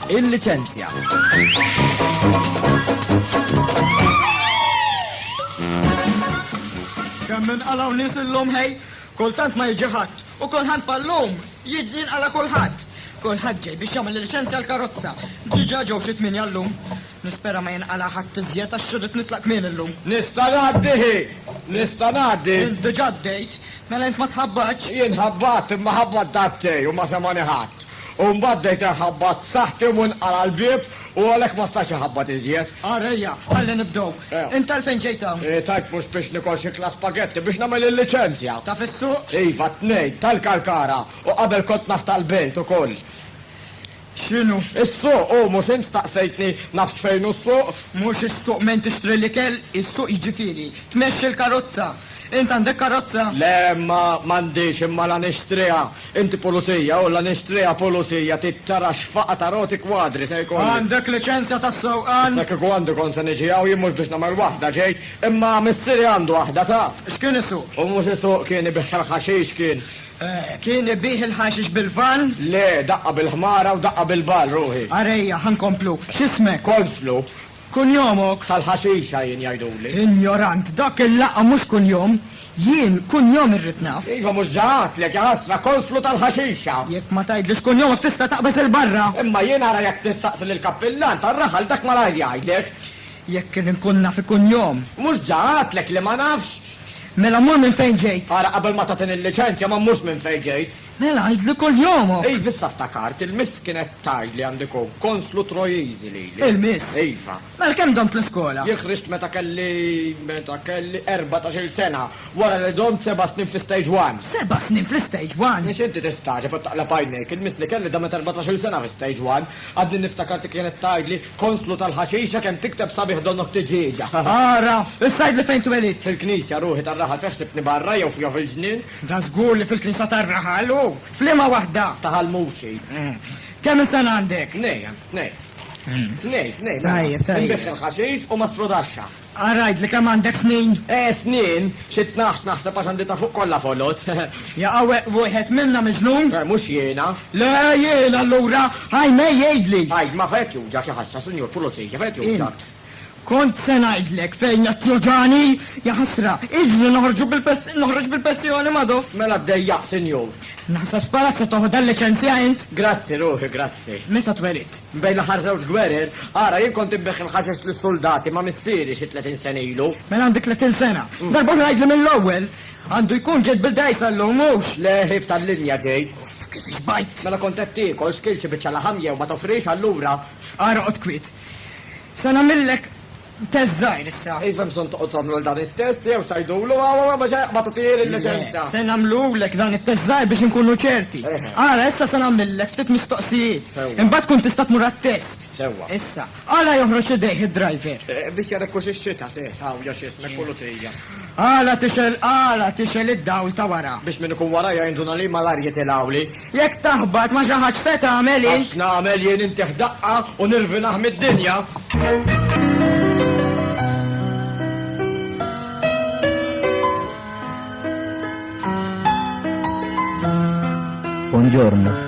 Il-liċenzja. Kemm minn qalaw nies illum ħej, kultant ma jiġi ħadd u kulħadd ballum jiġi jinqala kulħadd. Kulħadd ġej biex jagħmel il-liċenzja l-karozza. Diġà ġew xi tmien jallum. Nispera ma jinqala' ħadd iżjed għax irrid nitlaq kmieni llum. Nista' ngħaddi hi? Nista' ngħaddi? Int diġà għaddejt. Mela int ma tħabbatx? Jien ħabbatt, imma ħabbatt darbtej u ma semgħani ħadd. U mbagħad bdejt inħabbat b'saħħti u nqala' l-bieb u għalhekk ma stajtx inħabbat iżjed. Ara ejja, ħalli nibdew. Int għalfejn ġejt hawn? Tajt mhux biex nikol xi klas spagetti, biex nagħmel il-liċenzja. Ta' fis-suq? Iva, t-tnejn, tal-Kalkara, u qabel kont naf tal-Belt ukoll. X'inhu s-suq? Hu mhux int staqsejtni nafx fejn hu s-suq? Mhux is-suq minn tixtri l-ikel? Is-suq jiġifieri tmexxi l-karozza. Int għandek karozza? Le, ma m'għandix, imma la nixtriha int pulizija u la nixtriha pulizija trid tara x'faqa ta' roti kwadri se jkolli. Għandek liċenzja ta' sewqan? Issa kieku għandi kont se niġi hawn jien mhux biex nagħmel waħda ġejt, imma missieri għandu waħda taf. X'kien isuq? Hu mhux isuq kien, ibigħ il-ħaxix kien. Kien ibigħ il-ħaxix bil-vann? Le, daqqa bil-ħmara u daqqa bil-ball, ruħi. Arejja, ħa nkomplu. X'ismek? Konslu. Kunjomok? Tal-ħaxixa jien jgħiduli. Injorant, dak il-laqgħa mhux kunjom. Jien, kunjom irrid naf. Iva, mhux ġa għadtlek, jaħasra, Konslu tal-ħaxixa! Jekk ma tgħidlix kunjomok tista' taqbeż 'il barra! Imma jien ara jekk tistaqsi lill-kappillan tar-raħal dak malajr jgħidlek. Jekk inkun naf ikunjom. Mhux ġa għadtlek li ma nafx? Mela mmur minn fejn ġejt. Ara, qabel ma tagħtini l-liċenzja ma mmurx minn fejn ġejt. Mela għidli kull jomok. Iva, issa ftakart, il-miss kienet tgħid li għandi nkun konslu Trojiżi lili. Il-miss? Iva. Mela kemm domt l-iskola? Jien ħriġt meta kelli, meta kelli erbatax-il sena, wara li domt seba' snin fl-Istage One. Seba' snin fl-Istage One? Għax inti tistagħġeb u taqleb għajnejk, il-miss li kelli damet erbatax-il sena fl-Istage One. Għadni niftakar dik kienet tgħidli, Konslu tal-ħaxixa kemm tikteb sabiħ donnok tiġieġa. Ara! Issa għidli fejn twelidt? Fil-knisja, ruħi tar-raħal fejn ħsibtni barra jew fija fil-ġnien? Da żgur li fil-knisja tar-raħal, u f'liema waħda? Ta' Ħal Muxi. Kemm il sena għandek? Tnejn, tnejn. Tnejn, tnejn. Tajjeb, tajjeb. Inbigħ il-ħaxix u ma strodaxxa. Ara għidli kemm għandek snin? Eh, snin? Xi tnax, naħseb, għax għandi ta' fuq kollha folot. Jaqaweq wieħed minna miġnun? Eh, mhux jiena. Le, jien allura! Ajmej, għidli! Għid, ma fejn qed juġgħek, ja ħasra, Sinjur Pulizija, fejn qed juġgħek? Int. Kont se ngħidlek fejn qed tjoġgħani! Ja ħasra, iġni noħorġu bil-pens-, noħroġ bil-pensjoni, Madoff! Mela ddejjaqt, Sinjur. Naħseb sparat se toħodha l-liċenzja int? Grazzi ruħi, grazzi. Meta twelidt? Bejn l-aħħar żewġ gwerer, ara jien kont inbigħ il-ħaxex lis-suldati ma' missieri xi tletin sena ilu. Mela għandek tletin sena. Darb'oħra għidli mill-ewwel. Għandu jkun ġejt bil-dgħajsa llum, mhux? Le, ħieb tal-linja ġejt. Uff, kif xbajt! Mela kont qed tiekol, xkilt xi biċċa laħam jew ma tofrix allura? Ara oqgħod kwiet. Se nagħmillek. Test żgħir issa. Iva hemm bżonn toqgħod tagħmlu dan it-test jew tgħidulu għaw ma ġej ma tagħtih il-liċenza. Se nagħmlulek dan it-test żgħir biex inkunu ċerti. Ara issa se nagħmillek ftit mistoqsijiet. Imbagħad tkun tista' tmur għat-test. Sewwa. Issa, għala joħroġ idejh id-driver? Biex jara jekk hux ix-xita se hawn jew x'ismek pulizija. Għala tixgħel għala tixgħel id-dawl ta' wara? Biex min ikun warajja jinduna li malajr jitilgħuli. Jekk taħbat ma' xi ħadd x'se tagħmel int? Għax nagħmel jien intih daqqa u nirvinah mid-dinja. Buongiorno.